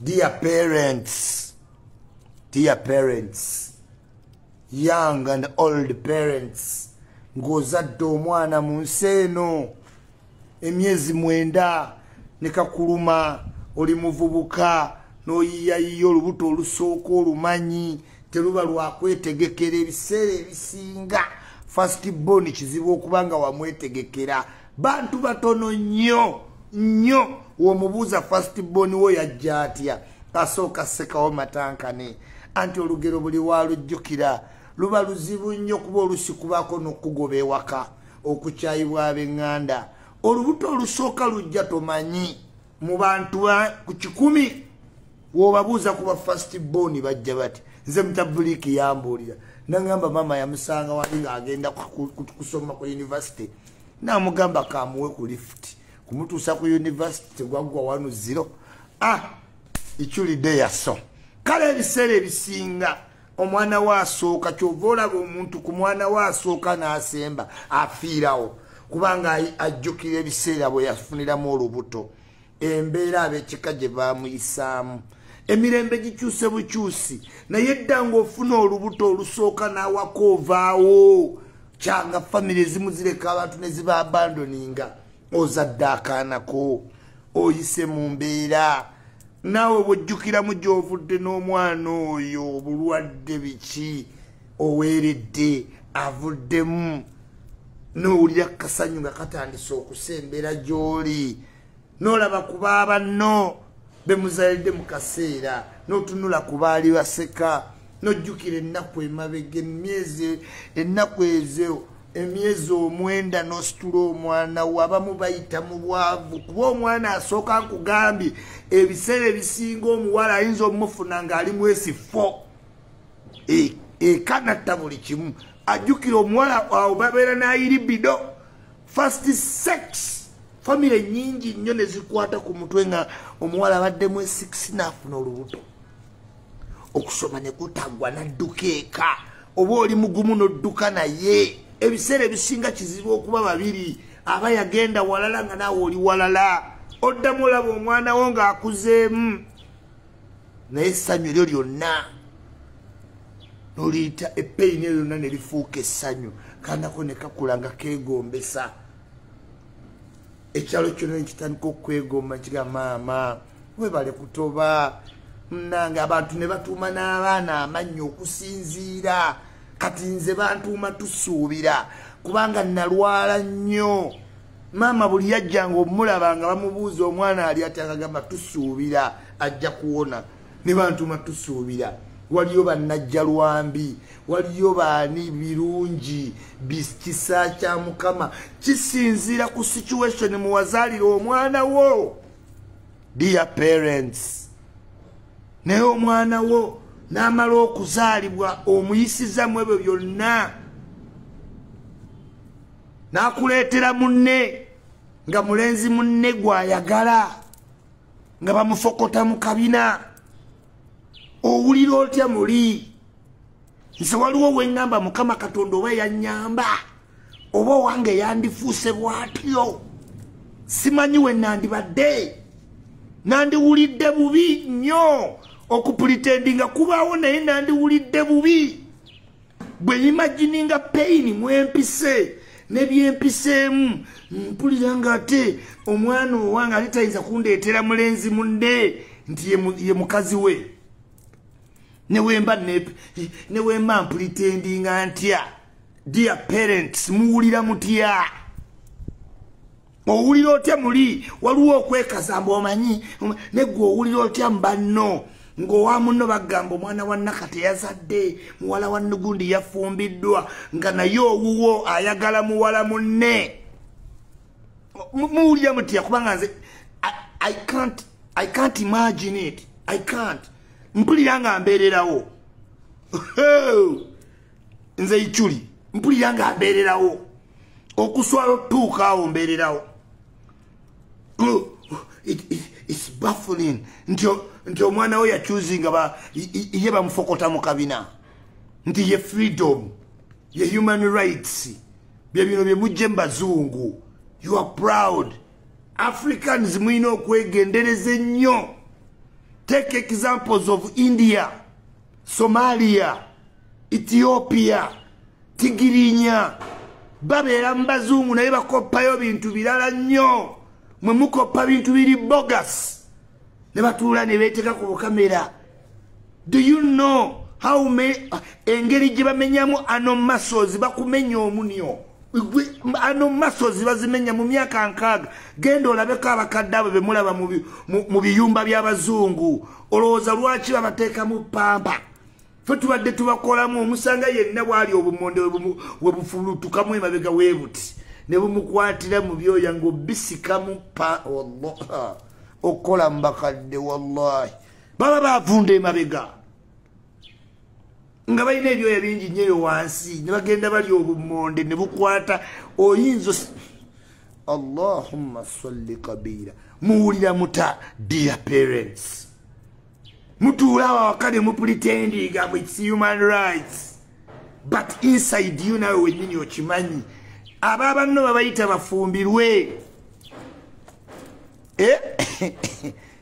dear parents dear parents young and old parents ng'ozadde omwana mu nsi eno emyezi mwenda ne kakuluma oli muvubuka n'oyiyayiya olubuto olusooka olumanyi teruba lwakwetegekera ebiseera ebisinga fast bon kizibu okuba nga wamwetegekera bantu batono nnyo nnyo womubuuza fast bon wo yajja atya asooka sekawo matankane anti olugero buli walujjukira luba luzibu nnyo kuba olusi kubaako nokugoba ewaka okukyayibwa abenganda olubuto olusooka lujja tomanyi mu bantu ku kikumi wobabuuza kuba fast bon bajja bati nze mutabuliiki yambuulira nangamba maama yamusanga wali ngaagenda kusoma ku univesity namugamba kamuwe ku lift kumutuusa ku univesity tegwaggwa wanu ziro a ah, iculidde yaso kale ebiseera ebisinga omwana we asooka kyova olaba omuntu ku mwana we asooka n'asemba afiirawo kubanga ajjukira ebiseera bwe yafuniramu olubuto embeera ab'ekika gye baamuyisaamu emirembe gikyuse bukyusi naye dda ng'ofuna olubuto olusooka n'awaka ovaawo kyanga famiry ezimu zireka abantu ne ziba abandoninga ozadde akaanako oyise mu mbeera naawe bwojjukiramu gy'ovudde n'omwana oyo obulwadde biki oweeredde avuddemu n'owulira kasanyu nga katandise okusembera gy'oli nolaba ku baabanno be muzalidde mu kaseera n'otunula ku baali baseka n'ojjukira ennaku emabega emyezi ennaku ezo emyezi omwenda n'ositula omwana wo abamu bayita mu bwavu kuba omwana asooka nkugambye ebiseera ebisinga omuwala ayinza omufuna ng'ali mwesi fo e, ekanatta buli kimu ajjukira omuwala awo babeera n'ayiribido fast sex famire nyingi nnyo ne zikwata ku mutwe nga omuwala abaddemu esikisi naafuna olubuto okusoma ne kutaggwa nadduka eka oba oli mugumu n'odduka naye ebiseera ebisinga kizibu okuba babiri aba yagenda walala nga naawe oli walala oddamu olaba omwana wo ng'akuzeemu naye essanyu eryo lyonna noliyita epeyini eyo lyonna ne lifuuka essanyu kanako ne kakula nga keegombesa ekyalo kyona nekitandika okwegomba kiga maama webale kutoba munange abantu ne batuuma n'abaana amannyi okusinziira kati nze bantuuma tusuubira kubanga nalwala nnyo maama buli yajjanga omulaba nga bamubuuza omwana ali atyakagamba tusuubira ajja kuwona ne bantuma tusuubira waliyo bannajja lwambi waliyo baani birungi kisa kya mukama kisinziira ku situation muwazaalira omwana wo dear parents naye omwana wo n'amala okuzaalibwa omuyisiza mu ebyo byonna n'akuleetera munne nga mulenzi munne gw'ayagala nga bamufokota mu kabina owulira otya muli nze waliwo weŋŋamba mukama katonda oba yanyamba oba owange yandifuuse bwatyo simanyi we nandibadde nandiwulidde bubi nnyo okupulitendinga kubaawo naye nandiwulidde bubi bwe imagininga pain mwempise nebyempiseemu mpulira nga ate omwana owange ate tayinza kundeetera mulenzi munne nti ye mukazi we newemba newemba mpulitendinga ntya dear parents muwulira mutya owulira otya muli waliwo okwekaza mbu omanyi negwe owulira otya mubanno ngaowa munno bagamba omwana wa naka teyazadde muwala wa nugundi yafumbiddwa nga naye owuwo ayagala muwala munne muwulira mutya kubanga nze i can't i can't imagine it i can't mpulira nga mbeererawo nze ichuli mpulira nga mbeererawo okuswala otuuka awo mbeererawo its baffling nti omwana we yacusinga ba ye bamufokota mu kabina nti ye freedom ye human rights byebino byemujje mubazungu you are proud africans mulina okwegendereza ennyo take examples of india somalia ethiopia tigirinya babeera mu bazungu naye bakoppayo bintu birala nnyo mwe mukoppa bintu biri bogus ne batuula ne beeteka ku bukamera do you know how many ah, engeri gye bamenyamu ano masozi bakumenya omunio ano masozi bazimenya mu myaka nkaaga genda olabeko abakadde abo bemulaba mu biyumba by'abazungu olowooza lwaki babateekamu pampa fe tubadde tubakolamu omusanga yenna bwali obumonde webufulutukamu emabega webuti nebumukwatira mu byoya ngaobisikamu pa okukola mubakadde wallahi baba bavunda emabega nga balina ebyoya bingi nyo eyo wansi ne bagenda bali obumonde ne bukwata oyinza allahumma salli kabira muwulira muta dear parents mutuula awo awaka ne mupulitendinga mu its human rights but inside you nawe wenyini okimanyi abo abanno babayita bafumbirwe eh?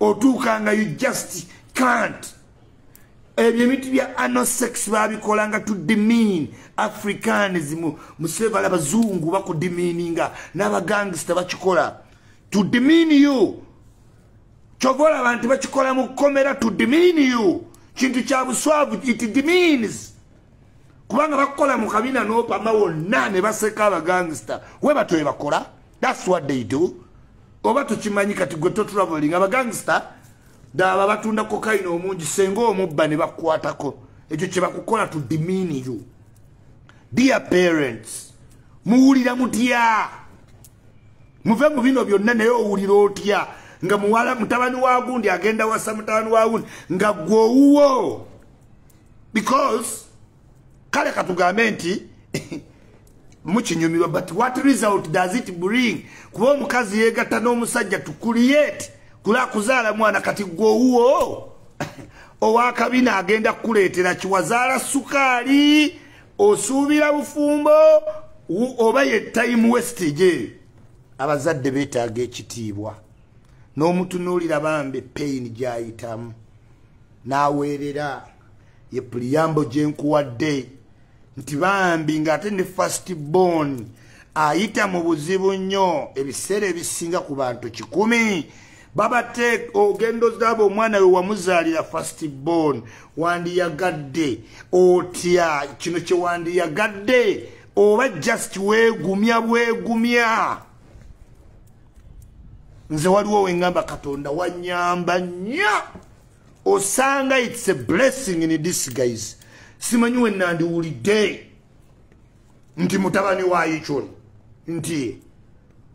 otuuka nga you just can't ebyo ebintu bya anosex babikola nga tudimin africans musevala abazungu bakudimininga n'abagangsta bakikola tudimin you kyova olaba nti bakikola mu kkomera tudimin you kintu kya buswavu it dimins kubanga bakukola mu kabina n'opama wonna ne baseka abagangsta we batyo bebakola that's what they do oba tukimanyi kati gwe to traveling abagangsta daba batunda kokaina omungi senga omubba ne bakwatako ekyo kye bakukola to demean you dear parents muwulira mutya muve mu bino byonna naye owulira otya nga muwala mutabani wa gundi agenda wasa mutabani wa gundi nga gwe owuwo because kale katugambe nti mukinyumirwa but what result does it bring kuba omukazi yegatta n'omusajja to create kula kuzaala mwana kati gwowuwo owakabina agenda kukuleetera kiwazaala sukaali osuubira bufumbo oba ye time westage abazadde betaaga ekitiibwa n'omutunuulira bambi pain gyayitamu n'aweerera ye puliyambo gye nkuwadde nti bambi ng'ate ne fast bon ayita mu buzibu nnyo ebiseera ebisinga ku bantu kikumi babate ogendo zaabo omwana we wamuzaalira fast bon wandiyagadde otya kino kye wandiyagadde oba just weegumya bwegumya nze waliwo wengamba katonda wanyamba nnyo osanga its a blessing in this guys simanyi wenandiwulidde nti mutabani wa yichon nti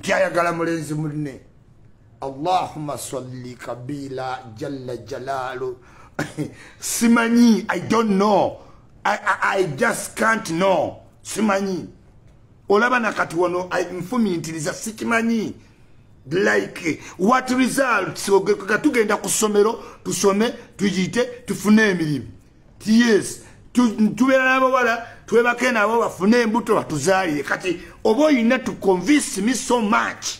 tyayagala mulenzi munne allahuma salli kabila jalla jalalu simanyi i don't know I, I, i just can't know simanyi olaba nakati wano nfumintiriza sikimanyi like what results ogeka tugenda ku ssomero tusome tuyite tufune emirimu yes tubeera n'abawala twebake nabo bafune embuto batuzaalire kati oba olina to convince me so much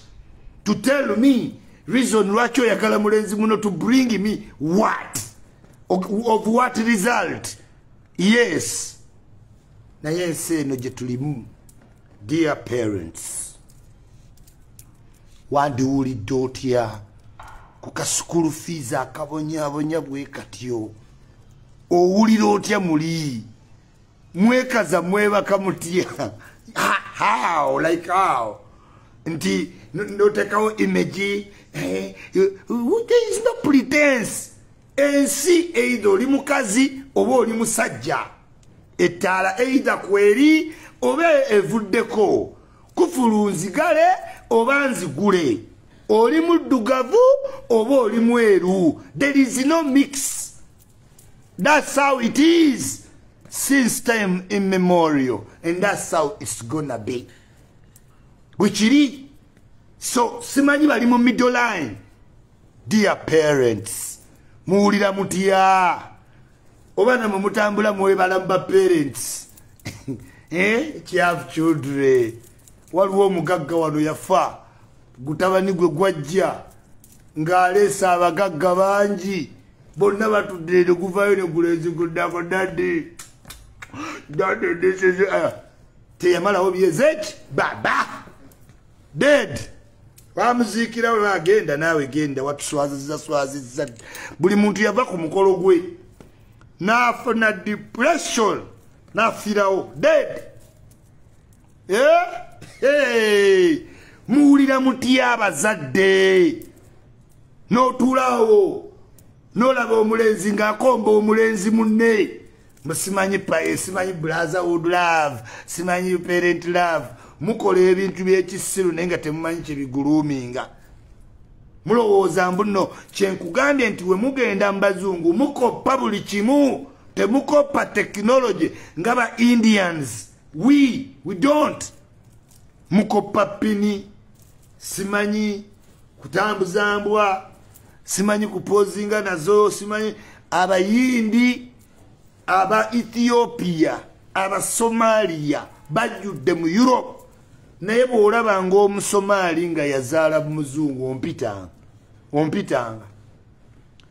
to tell me reason lwaki oyagala mulenzi muno to bring me what of, of what result yes naye ensi eno gye tulimu dear parents wandiwulidde otya ku kasukulu fees akabonyabonya bwe katyo owulira otya muli mwekaza mwebaka mutya how like how nti notekawo image eh, there is no pretense ensi eitha oli mukazi oba oli musajja ettaala eitha kweri oba evuddeko kufulu nzigale oba nzigule oli muddugavu oba oli mweru there is no mix that's how it is since time immemorial and that's how it's gonna be bwekiri so simanyi bali mu middle line dear parents muwulira mutya oba namwe mutambula mwebala mu baparents eh, kyav children waliwo omugagga wano yafa gutabani gwe gwajja ng'aleesa abagagga bangi bonna batudde ne guvayo ne guleziguddako dadi dadi disizi eh, teyamalawo byezeki baba dead bamuziikira we bagenda naawe genda watuswaziza swaziza buli muntu yava ku mukolo gwe nafuna depression nafirawo dead eh? hey. muwulira mutya abazadde notulawo nolaba omulenzi ngaakomba omulenzi munne musimanyi paye simanyi blaza wood love simanyi parent love mukola ebintu byekisiru naye nga temumanyi kyebiguluminga mulowooza mbuno kyenkugambye nti wemugenda mubazungu mukoppa buli kimu temukoppa tekinology nga ba indians we we don't mukoppa pini simanyi kutambuza mbwa simanyi kupozinga nazo simanyi abayindi aba ethiopia abasomaliya bajjudde mu europe naye bwolaba ngaomusomaali nga yazaala muzungu ompitanga ompitanga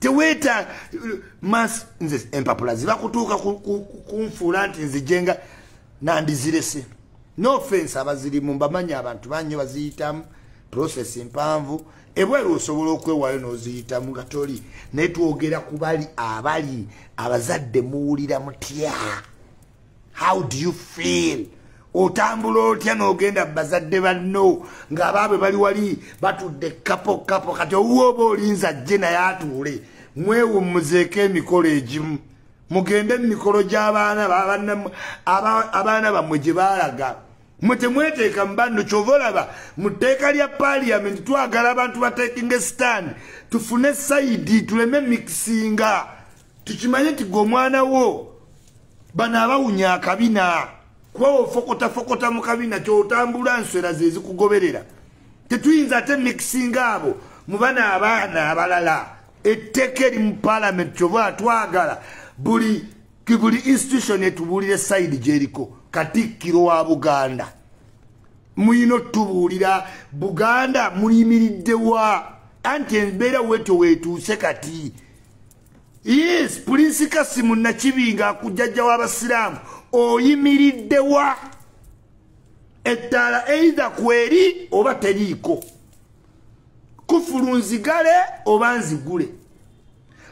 teweeta mas nze empapula zibakutuuka kunfuula nti nzijenga nandizirese no offense abazirimu mbamanyi abantu banyo baziyitamu process mpanvu ebweru osobola okwewayo noziyitamu nga toli naye twogera kubali abali abazadde muwulira mutya how do you feel otambula otya nogenda bazadde banno ngaabaabwe bali wali batudde kapo kapo kati owuwa oba olinza jje naye atuule mwewummuzeeko emikolo egimu mugende mu mikolo gy'abaana abaana bammwe gye baalaga mwe temweteeka mu banno kyova olaba mu tteeka lya paliyamenti twagala abantu bateekinga esitaani tufune sayidi tuleme mikisinga tukimanye nti gwe omwana wo bano abawunya akabina kuba ofokotafokota mu kabina kyotambula nswera zezikugoberera tetuyinza ate mixinga abo mu bana abaana abalala etteka eri mu palamenti kyova twagala buli buli institution etubuulire sayidi gyeriko katikkiro wa buganda muyina otubuulira buganda muyimiriddewa anti embeera wetyo wetuuse kati yes pulinsi kasimu nakibinga akujjajja w'abasiraamu oyimiriddewa ettaala eitha kweri oba teriiko kufulu nzigale oba nzigule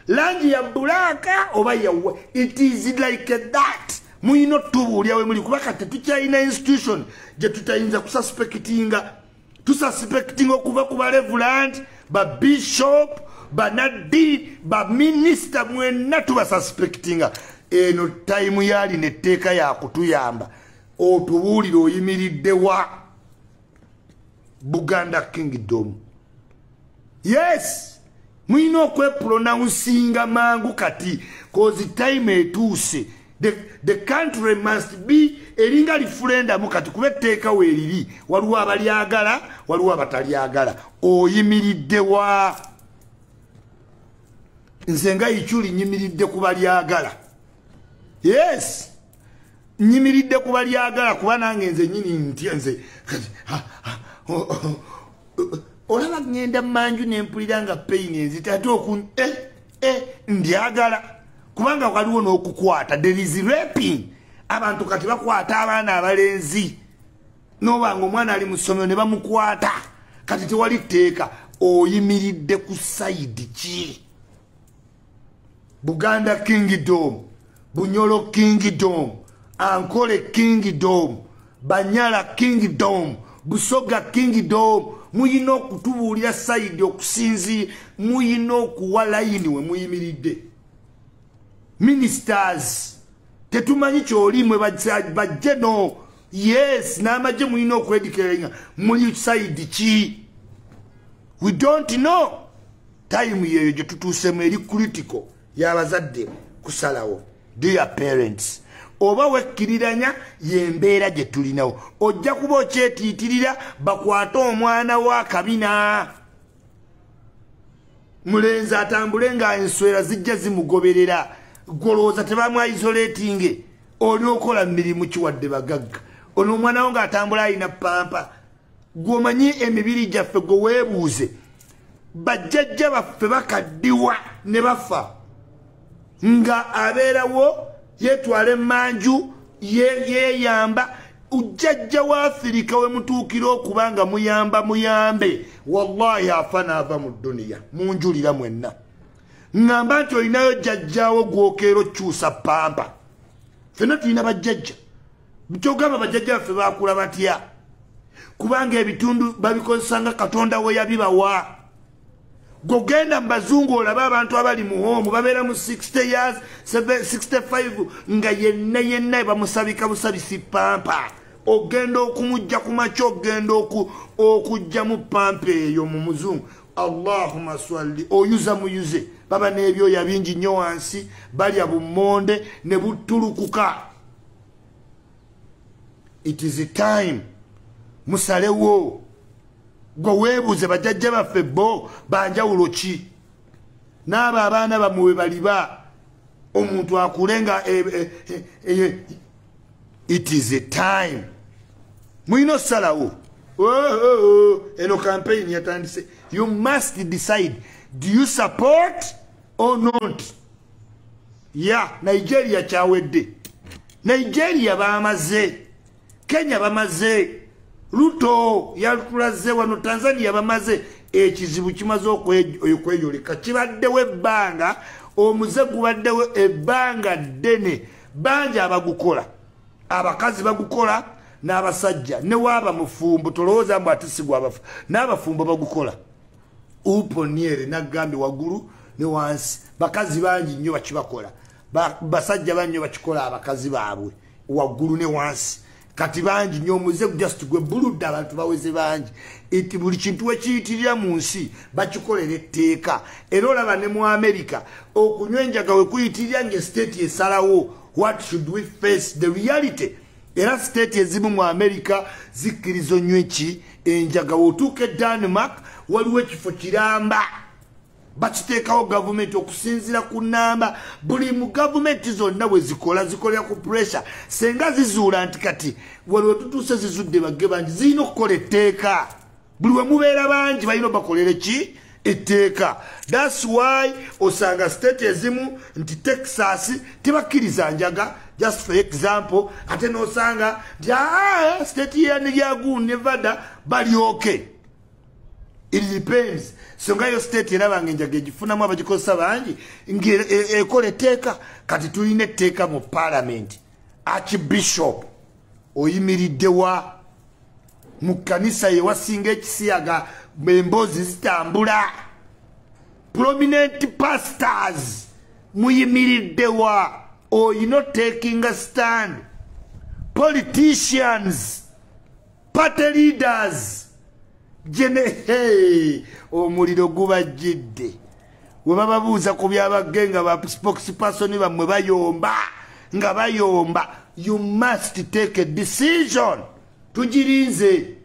langi ya bulaaka oba yawa it is like that muyina otubuulya we muli kuba kati tukyalina institution gye tutayinza kusaspekitinga tususpecting okuva ku balevuland babishop banaddi baminisita mwenna tubasuspectinga eno tayimu yalina etteeka yakutuyamba otubuulire oyimiridde wa buganda kingdom yes mulina okwepulonawunsinga mangu kati kozi time etuuse the, the country must be eringa lifulendamu kati kuba etteeka weeriri waliwo abalyagala waliwo abatalyagala oyimiridde wa nze nga ikyuli nyimiridde ku balyagala yes nyimiridde ku balyagala kuba nange nze nyini ntya nze olaba ŋŋenda manju ne mpulira nga peyini enzita ate oku eh? eh, ndyagala kubanga waliwo n'okukwata derizirepin abantu kati bakwata abaana abalenzi nobanga omwana ali mu ssomero ne bamukwata kati tewali tteeka oyimiridde ku sayidi ki buganda kingdom bunyolo kingdom ankole kingdom banyala kingdom busoga kingdom muyina okutubuulira sayidi okusinzi muyina okuwa layini we muyimiridde ministers tetumanyi kyoli mwe bajje no yes n'amagye muyina okwedikeringa muli sayidi ki we don't know time yeyo gyetutuusemu eri critical yabazadde kusalawo dear parents oba wekkiriranya yembeera gye tulinawo ojja kuba okyetiitirira bakwate omwana wa kabina mulenzi atambule nga enswera zijja zimugoberera gwolowooza tebamwaizoletinge oli okola mirimu kiwadde bagagga ono omwana wo ngaatambula alina pampa gwomanyi emibiri gyaffe gwe weebuuze bajjajja baffe bakaddiwa ne bafa nga abeerawo yetwala emanju yeyamba ujjajja waafirika we mutuukira okuba nga muyamba muyambe wallahi afa naava mu duniya munjulira mwenna ŋŋamba nti olinayo jjajjaawo gwokeera okyusa pampa fenna tulina bajjajja nkyogamba bajjajja baffe bakula batya kubanga ebitundu babikozesa nga katonda we yabibawa gogenda mu bazungu olaba abantu abali mu hoomu babeera mu 60 years 65 nga yenna yenna ebamusabika busabisi pampa ogenda okumujja ku makya ogenda okujjamu pampa eyo mu muzungu allahuma swalli oyuza muyuze baba n'ebyoya bingi nnyo wansi balya bummonde ne buttulukuka it is time musalewo gwe weebuuze bajajja baffe bo banjawulo ki n'abo abaana bamwe we baliba omuntu akule nga e, e, e, it is a time mulina osalawo oh, oh, oh. eno campaign yatandise you must decide do you support or not ya nigeria kyawedde nigeria bamaze kenya bamaze luto yatulaze wano tanzania bamaze ekizibu kimaze okweyoleka kibaddewo ebbanga omuze gubaddewo ebbanga ddene bangi abagukola abakazi bagukola n'abasajja newaaba mufumbo tolowooza mbu atisigwa abafu n'abafumbo bagukola uponiere nagambye wagulu ne wansi bakazi bangi nnyo bakibakola basajja bannyo bakikola abakazi baabwe waggulu ne wansi kati bangi nyo omuze just gwe buludde abantu baweze bangi nti buli kintu wekiyitirira mu nsi bakikolera etteeka era olaba ne mu amerika okunywa enjaga wekuyitirira nga estate esalawo what should we face the reality era state ezimu mu america zikkirizo nyo eki enjaga wotuuka e danmark waliwo ekifo kiramba bakiteekawo gavumenti okusinziira ku namba buli mu gavumenti zonna bwe zikola zikolera ku puresure senga zizuula nti kati waliwo tutuuse zizudde bagge bangi zirina okukola etteeka buli we mubeera bangi balina obakolere ki etteeka thats why osanga state ezimu nti texas tebakkiriza njaga just for example ate nosanga nti aa ah, state yaniryagu nevada balyoke it depends songa yo state erabanga enjaga egifunamu abagikozesa bangi ngaekola e, etteeka kati tulina etteeka mu palamenti archbishop oyimiriddewa mu kkanisa ye wasinga ekisiyaga emboozi zitambula prominent pastors muyimiriddewa oyina otekinga stand politicians party leaders jene hey, omuliro gubajjidde webababuuza ku byabagge nga ba spokesperson bammwe bayomba nga bayomba you must take a decision tugirinze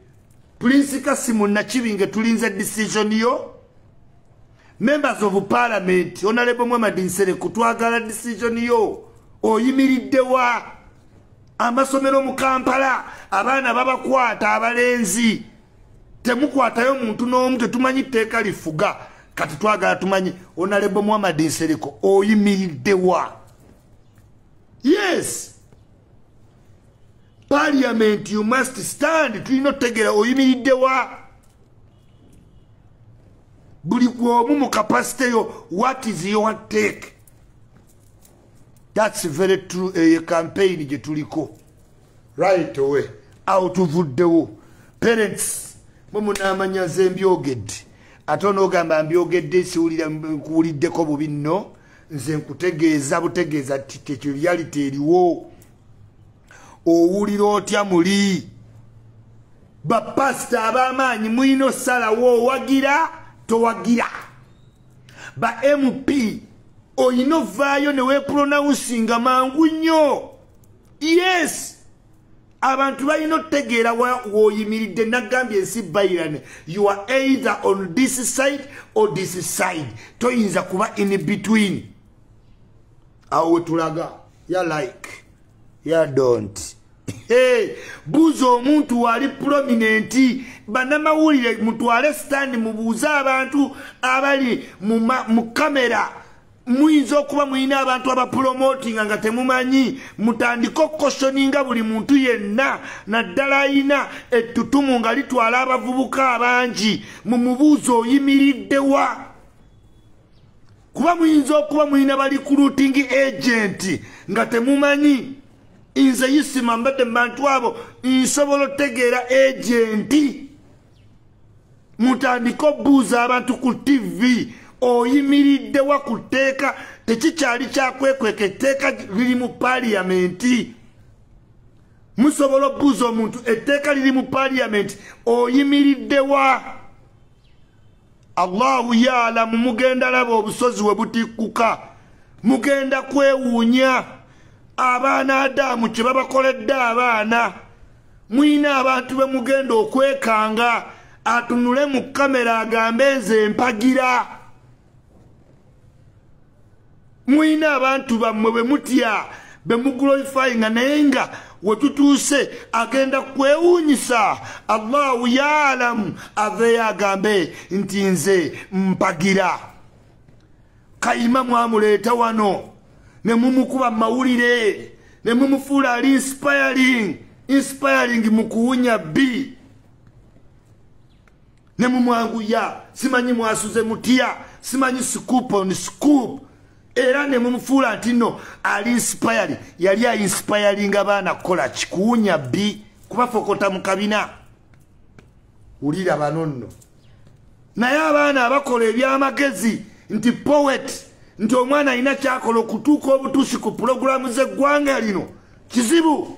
prince kasimu nakibinge tulinze decision yo members of parliament onalebo mwamadinseere kutwagala decision yo oyimiridde wa amasomero mu kampala abaana babakwata abalenzi temukwatayo muntu n'omu tetumanyi tteeka lifuga kati twagala tumanyi onalebo muhamadi nsereko oyimiridde wa yes parliament you must stand tulina otutegeera oyimiridde wa buli gwomu mu kapasite yo what is your take that's very true eye eh, campaign gye tuliko right away awo tuvuddewo parents mwe munaamanya ze mbyogedde ate onoogamba mbyogedde siwulira nkuwuliddeko bubi nno nze nkutegeeza butegeeza tekyo reality eriwo owulira otya muli bapasita ab'amaanyi mulina osalawo owagira towagira ba mp olina ovaayo ne weepulonawunsinga mangu nnyo yes abantu balina otutegeera woyimiridde nagambye ensi bairane you are either on this side or this side toyinza kuba in between awo wetulaga ya like ya don't hey, buuza omuntu waali prominenti banamawulire mutwale sitani mubuuze abantu abali mu kamera muyinza okuba mulina abantu abapulomotinga nga temumanyi mutandike okukoshoninga buli muntu yenna naddala ayina ettutumu nga litwala abavubuka abangi mu mubuuzo oyimiriddewa kuba muyinza okuba mulina balikulutingi agenti nga temumanyi nze yisima mbadde mu bantu abo nsobola otegeera agenti mutandike obuuza abantu ku ttivi oyimiriddewa ku tteeka tekikyali kyakwekweka etteeka liri mu paliyamenti musobola obuuza omuntu etteeka liri mu paliyamenti oyimiriddewa allahu yaalamu mugenda laba obusozi we butikkuka mugenda kwewuunya abaana adaamu kye babakoledde abaana mulina abantu be mugenda okwekanga atunule mu kamera agambe nze mpagira muyina abantu bammwe bwe mutya be muglorifyinga naye nga wetutuuse agenda kwewuunyisa allahu yaalamu aveeyo agambe nti nze mpagira kayima mwamuleeta wano ne mumukuba mawulire ne mumufuula ali inspiring inspiring mu kuwunya bbi ne mumwanguya simanyi mwasuze mutya simanyi scoop on scoop era ne mumufuula nti no ali inspire yali ainspiringa baana kukola kikuwunya bi kubafokota mu kabina wulira bano nno naye abaana abakola ebyamagezi nti poet nti omwana alina kyakola okutuuka obutuusi ku pulogulaamu z'eggwanga lino kizibu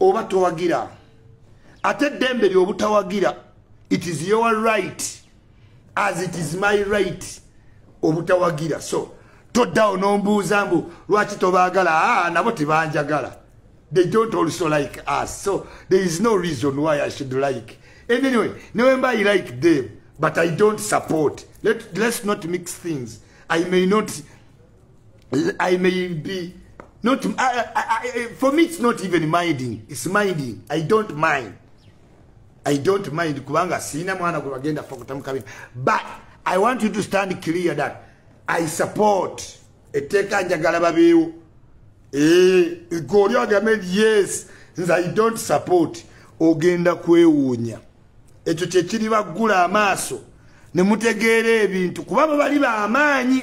oba towagira ate eddembe lyobutawagira it is your right as it is my right obutawagira so toddawo nombuuza mbu lwaki tobaagala aa ah, nabo tebanjagala they don't also like us so there is no reason why i should like anyway newemba i like them but i don't support Let, let's not mix things i may not I may be not I, I, I, for me it's not even minding it's minding I don't mind I don't mind kubanga sina mwana gwe bagenda fa kutamukabya but I want you to stand clear that I support etteeka njagala babeewo eh, goli agame yes nze I don't support ogenda kwewuunya ekyo kyekiri baggula amaaso ne mutegeera ebintu kuba bwe bali ba amaanyi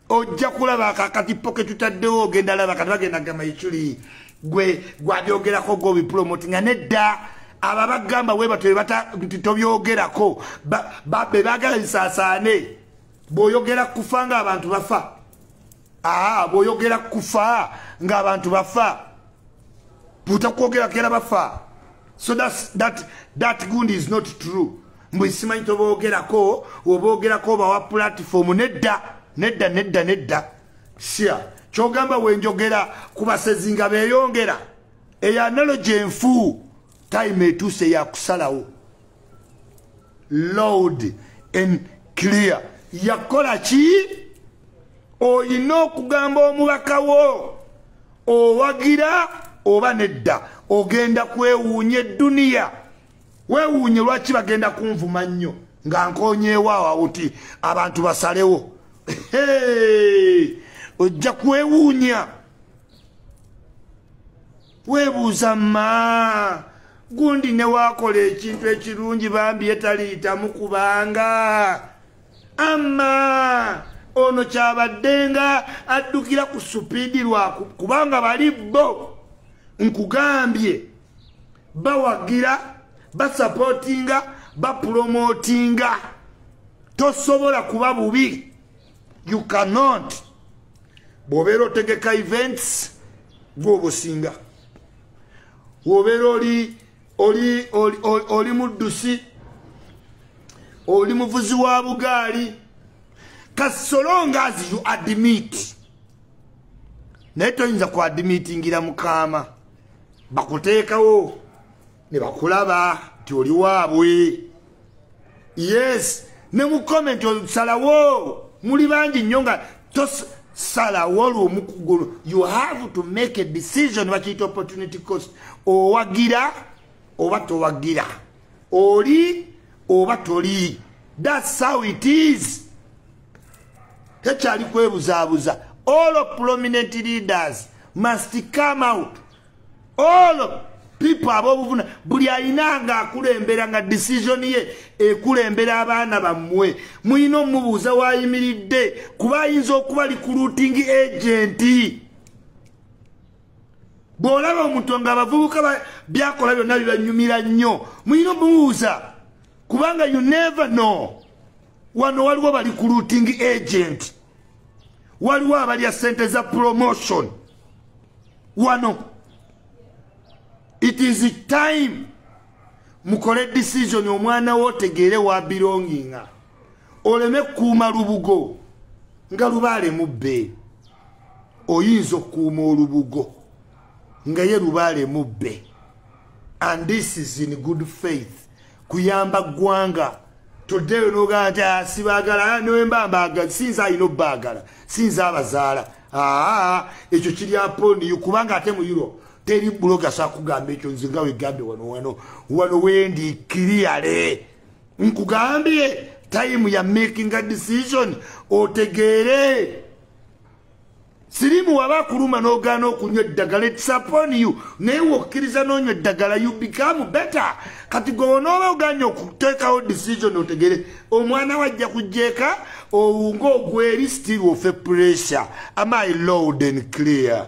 ojja kulaba akakatippo ke tutaddewo ogenda laba kati bagenda gamba ikyuli gwe gwabyogerako gobipulomoti nga nedda abo abagamba webato nti tobyogerako be bagala bisaasaane bwoyogera kufa ngaabantu bafa aa bwoyogera kufa ngaabantu bafa butakwogerakera bafa so that, that, that gund is not true mbu simanyi toboogerako oboogerako obawa pulatifomu nedda nedda nedda nedda sia kyogamba wenjogera ku basezi nga beeyongera eyo analogi enfu time etuuse yakusalawo loud and clear yakola ki olina okugamba omubaka wo owagira oba nedda ogenda kwewuunya edduniya wewuunye lwaki bagenda kunvuma nnyo nga nkonyeewo awawuti abantu basalewo ojja kwewuunya webuuza ma gundi newakola ekintu ekirungi bambi yetaliyitamu kubanga ama ono kyabaddenga addukira ku supiidi lwaku kubanga bali bo nkugambye bawagira basapotinga bapulomotinga tosobola kuba bubi you cannot bwobeera otegeka events gwobusinga wobeera oli oli oli muddusi oli muvuzi wa bugaali kasolonga as you admit naye toyinza ku admitingira mukaama bakuteekawo ne bakulaba nti oli waabwe yes ne mu komenti osalawo muli bangi nnyo nga tosalawo lumu kugulu you have to make a decision bakiyita opportunity cost owagira oba towagira oli oba toli that's how it is tekyali kwebuzabuza all of prominent leaders must come out all of people abobuvuna buli alina nga akulembera nga decision ye ekulembera abaana bammwe mulina omubuuza wayimiridde kuba ayinza okuba likuluting agenti bw'olaba omuntu nga abavubuka byakola byonna bibanyumira nnyo mulina omubuuza kubanga you never know wano waliwo bali ku looting agent waliwo abalya sente za promotion wano it is time mukole decision omwana wo otegeere wa belonginga oleme kukuuma lubugo nga lubaale mubbe oyinza okukuuma olubugo nga ye lubaale mubbe and this is in good faith kuyamba ggwanga toddeyo nogaa nti ah, sibaagala ah, nembambaga sinza alina obaagala sinza abazaala aa ekyo kiri aponiyo kubanga ate mu europe teri buloga sakugamba ekyo nze nga wegambe wano wano wano wendi kiriyale nkugambye time ya making a decision otegeere sirimu waba akuluma n'ogaana okunywa eddagala etisapon you naye wokkiriza n'onywa eddagala you become better kati gwe wonooba oganye okuteekawo decision otegere omwana wajja kujjeeka owunga ogweri still ofe pressure am i loud and clear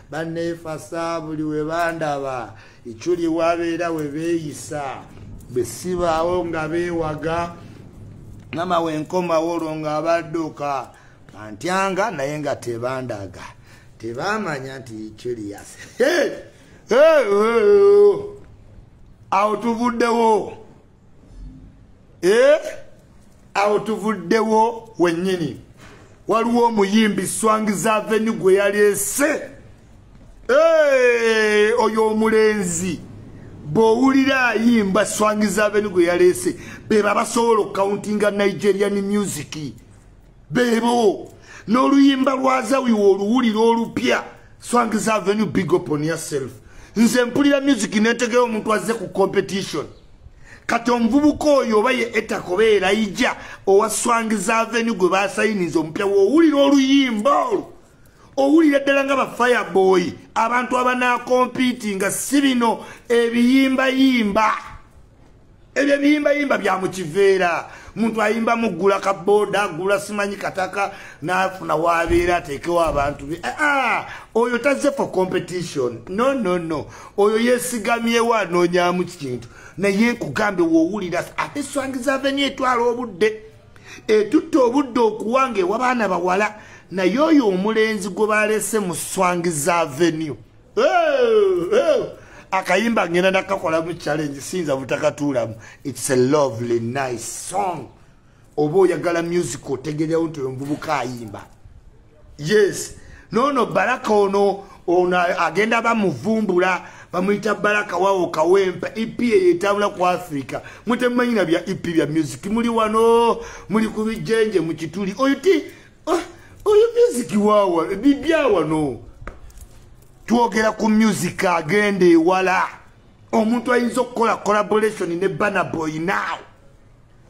banneefasa buli we bandaba ekyuli wabeera we beeyisa bwe sibaawo nga beewaga mama wenkomawo olwo nga abadduka antyanga naye nga tebandaga tebamanya nti curious awo tuvuddewo eh? awo tuvuddewo wennyini waliwo omuyimbi swangiza aveni gwe yaleese eh, oyo omulenzi bwowulira ayimba swangiza aveni gwe yaleese beba basobola okukawuntinga nigerian musiki bebo n'oluyimba lwa zawiwa oluwulira olupya swangs avenue big up on yourself nze mpulira music netegera omuntu azze ku competition kati omuvubuka oyo oba ye etakoba erayija owa swangs avenue gwe basayiniza omupya wowulira oluyimba olwo owulira ddala nga bafireboy abantu abanakompiiti nga si bino ebiyimbayimba ebyo ebiyimbayimba bya mu kiveera muntu ayimba muggula ka booda agula simanyi kataka n'afuna waabeera ateekewo abantu be ah, ah, oyo tazze for competition no no no oyo yeesigamyewo anoonyamu kintu naye nkugambye woowulira ate eswangi zaveni etwala obudde etutta obudde okuwanga ewabaana bawala naye oyo omulenzi gwe baalese mu swangi za venue akayimba ngenda nakakolamu challenge sinza butakatuulamu its a lovely nice song oba oyagala music otegerewo nti omuvubuka ayimba yes nono baraka ono ono agenda bamuvumbula bamuyita baraka wawo kawempa ep eyo etambula ku africa mutemumanyina bya ep bya music muli wano muli ku bijenje mukituli oyuti ah, oyo music wawa bibyawano twogera ku music agenda ewala omuntu ayinza okukola collaboration ne banaboy now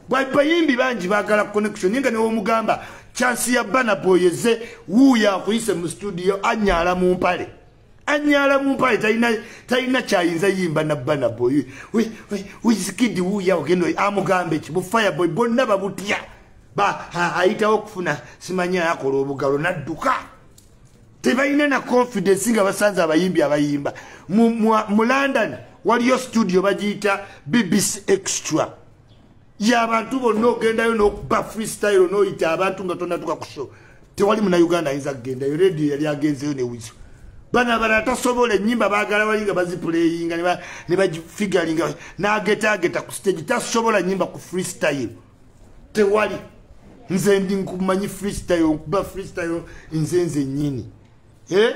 bayimbi bangi bagala connection naye nga newomugamba chansi ya banaboy eze wuuyo akuyise mu studio anyaala mu mpale anyala mumpaye talina talina kyayinza yimba na bana boy we we we skid wu ya ogendo amugambe ki bu fire boy bonna babutya ba aita okufuna simanya yakola obugalo nadduka tebayina na confidence nga basanze abayimbi abayimba mu, mu, mu london waliyo studio bagiyita bbc extra yabantu bonna ogendayo nokuba freestyle noyita abantu nga tonatuka kusho tewali muna uganda ayinza kugendayo radio yali agenzeyo newizo bana abalala tasobola enyimba bagala wali nga bazipuleyinga nebafigalinga nagetageta ku stage tasobola nyimba ku freestyle tewali nze ndi nkumanyi freestyle nkuba freestyle nze nze nyini eh?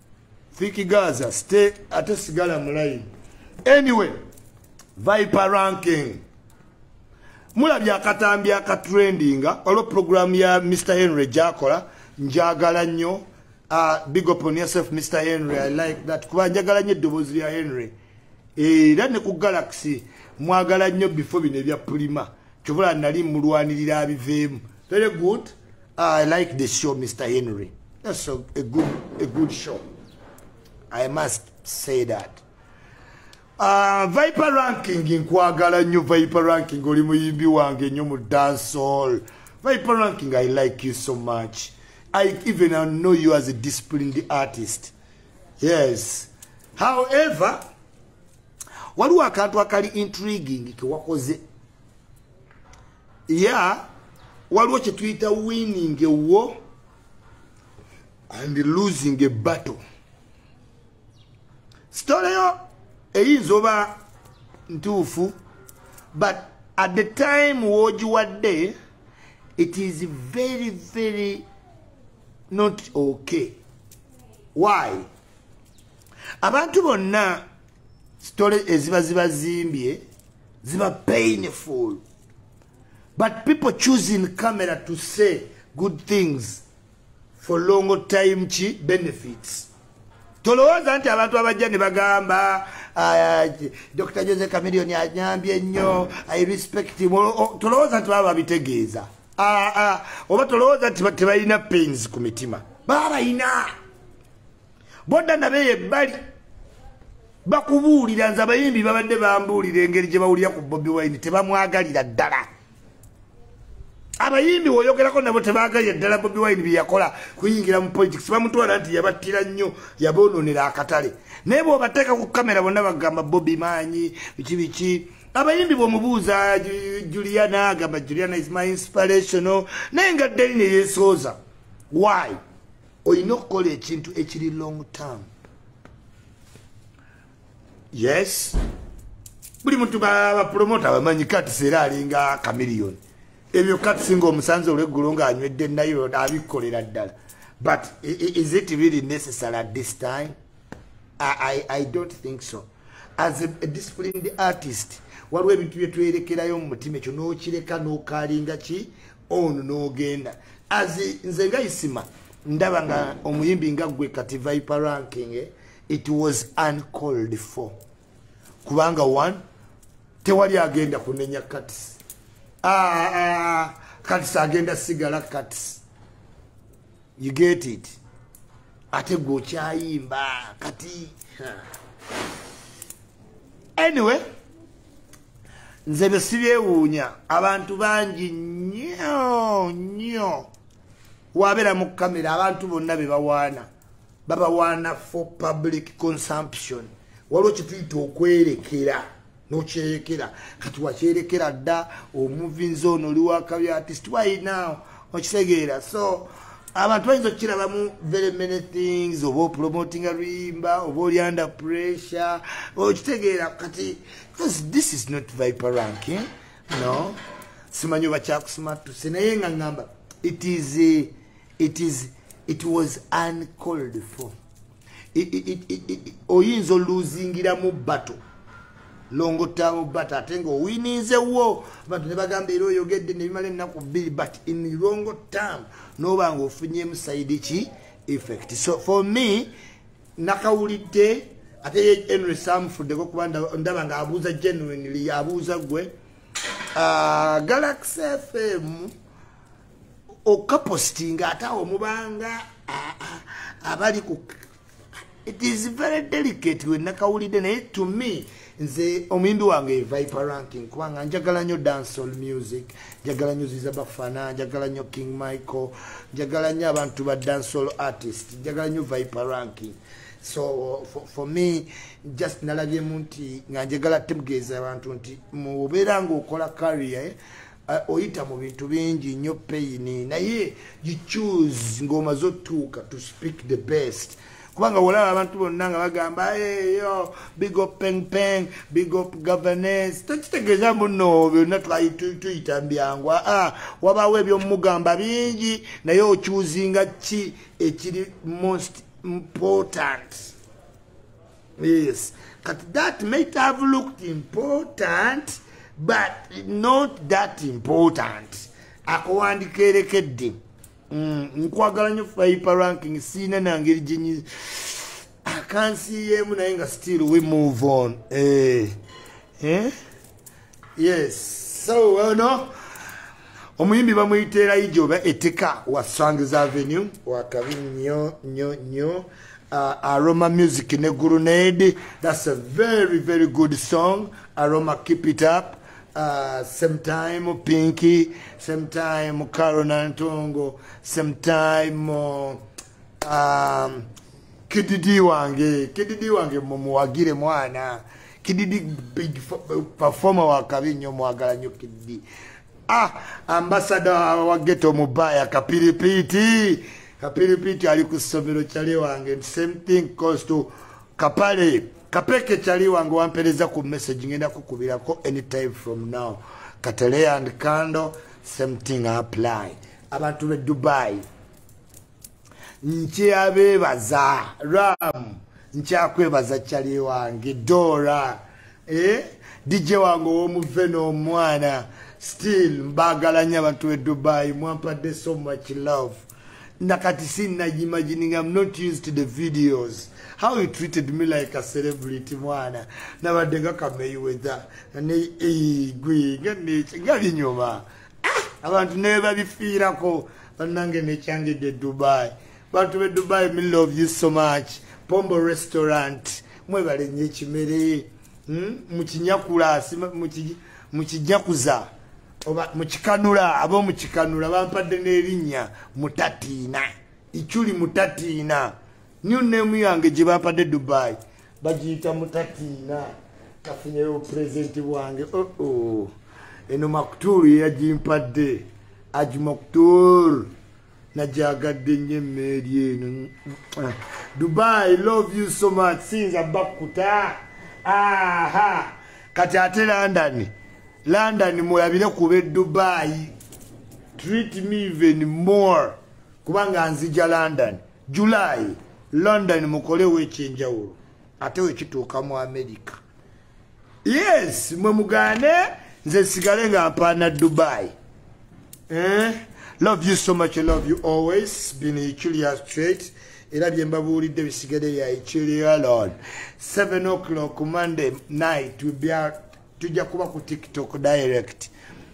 Thiki Gaza stay ate sigala mu line. Anyway, Viper ranking. Mula bya katambi aka trendinga olo program ya Mr Henry Jakola njagala nnyo uh, big up on yourself Mr Henry I like that kuba njagala nnyo dobozi ya Henry. Era ne ku Galaxy mwagala nnyo before bine bya Pulima. kyobola nali mulwanirira abiveemu very good ah, i like the show mr henry that's a, a, good, a good show i must say that uh, viper ranking nkwagala nnyo viper ranking oli muyimbi wange nnyo mu dancehall viper ranking i like you so much i even I know you as a disciplined artist yes however waliwo akantu akali intriguing kewakoze ya waliwo kyetuyita winning a war and losing a battle sitoleyo eyinza oba ntuufu but at the time wogiwadde it is very very not okay why abantu bonna sitole eziba zibazimbye ziba painful but people choosing camera to say good things for long time ki benefits tolowooza nti abantu abajja ne bagamba ah, dr jose camilion anyambye nnyo i respect tolowooza nti baba babitegeeza ah, ah. oba tolowooza nti tebalina pains ku mitima baba balina bodda nabeyo ebbali bakubuulira nze abayimbi babadde bambuulira engeri gye bawulira ku bobi wine tebamwagalira ddala abayimbi woyogerako nabo tebaagalira ddala bobi wine byeyakola kuyingira mu politics bamutwala nti yabattira nnyo yaboononera akatale naye bwobateeka ku kamera bonna bagamba bobi maanyi biki biki abayimbi bwomubuuza juliana agamba juliana is my inspirational naye nga ddeline yesooza why olina okukola ekintu ekiri long term yes buli muntu bapromota bamanyi kati seera alinga kamiliyoni ebyo kati singa omusanze olweggulo ng'anywedde nayo abikkolera ddala but is it really necessary at this time I, I, i don't think so as a, a disciplined artist waliwo ebintu byetwerekerayo mu mutima ekyo n'okireka n'okalinga ki ono nogenda azi nze nga isima ndaba nga omuyimbi nga gwe kati viper ranking eh, it was uncalled for kubanga one tewali agenda kunenya kats ah, ah, kats agenda sigala kats you get it ate gwe okyayimba kati anyway nze byo sibyewuunya abantu bangi nyo nyo wabeera mu kamera abantu bonna be bawaana babawaana for public consumption waliwo kituyita okwerekera nokyeyekera kati wakyerekera dda omuvinza ono oli wakabi artist why now okitegeera so abantu bayinza okukirabamu very many things oba opromotinga luyimba oba oli under pressure okitegeera kati because this is not viper ranking no simanyi oba kyakusimatuse naye nga ngamba it is it is it was uncalled for oyinza oluzingiramu bato longotawo bat ate nga owininzewo bantu nebagamba era oyogedde nebimala ennaku bbiri but in longo term noba nga ofunyemu saidi ki effect so for me nakawulidde ate enry samufuddeko kuba ndaba nga abuuza genuinely abuuza gwe ah, galaxy fm okapositinga ate awo mubanga abali ku it is very delicate wenakawulidde naye to me nze omuyimbi wange viper ranking kubanga njagala nyo dancehall music njagala nyo ziza bafana njagala nyo king michael njagala nyo abantu ba dancehall artist njagala nyo viper ranking so for, for me just nalabyemu nti nga njagala tegeeza abantu nti mubeera ngaokola carrier eh? Eh, oyita mu bintu bingi nnyo peyini naye you choose ng'omaze otuuka to speak the best kubanga wolaba abantu bonna nga bagamba eyo big up peng peng big up governance tekitegeeza muno byonna tuyita mbyangu aa ah, wabaawo ebyomumugamba bingi naye okyuzinga ki ekiri most important yes kati that might have looked important but not that important akuwandika erekedde mm, nkwagala nyo fiper ranking siina nangeri jenyi akansiyeemu naye nga still we move on eh. Eh? yes so well no omuyimbi bamuyita erayija oba etika wa strangs avenue wakabi nyo nyo nyo uh, aroma music ne gurunade thats a very very good song aroma keep it up uh, same time pinky same time carona ntongo same time uh, um, kididi wange kididi wange mumuwagire mwana kididi big performer wakabi nyo mwagala nyo kididi ah ambasada wa geto mubaya kapiripiti kapiripiti ali ku somero chale wange same thing cause to kapale kapeke chale wange wampereza ku message ngenda kukubira ko anytime from now katale and candle same thing apply abantu be dubai nkyabeebaza ram nkyakwebaza cali wange dora eh? dj wange owomuve n'omwana still mbagalanya abantu be dubai mwampadde so much love nakati sinna imagining am not used to the videos how he treated me like a celebrity mwana nabadde nga kameyi wetha nga ne eh, gwe nga neka nga linyuma abantu naye babifiirako bannange nekyangidde dubai bantu be dubai me love you so much pombo restaurant mwebale nyo ekimere hmm? mukinyakula mukinyakuza oba mukikanula aba omukikanula bampadde n'erinnya mutatiina ikyuli mutatiina new name yange gye bampadde dubai bagiyita mutatiina kafunyeyo pulezidenti bwange oo oh, oh. eno maktuulu yeyagimpadde aji maktuulu najagadde nnyo emmeeri eno dubai love you so much siyinza bakkuta aha kati ate london london mulabire kuba edubai treat me even more kubanga nzija london july london mukolewo ekyenjawulo ate wekituuka mu amerika yes mwe mugane nze sigale nga mpaana dubai eh? love you so much I love you always been ichulia straight era byembabuulidde bisigade bya ichulia lord 7 o'clock monday night will be out tujja kuba ku tiktok direct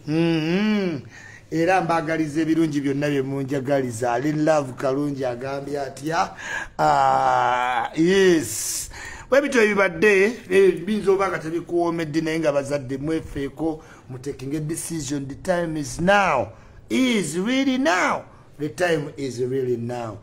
mm-hmm. era mbagaliza ebirungi byonna bye munjagaliza ali love kalungi agambye atya ah, yes webityo ebibadde eh, biyinza oba nga tebikuwomedde naye nga bazadde mwefeeko mutekinge decision the time is now is really now the time is really now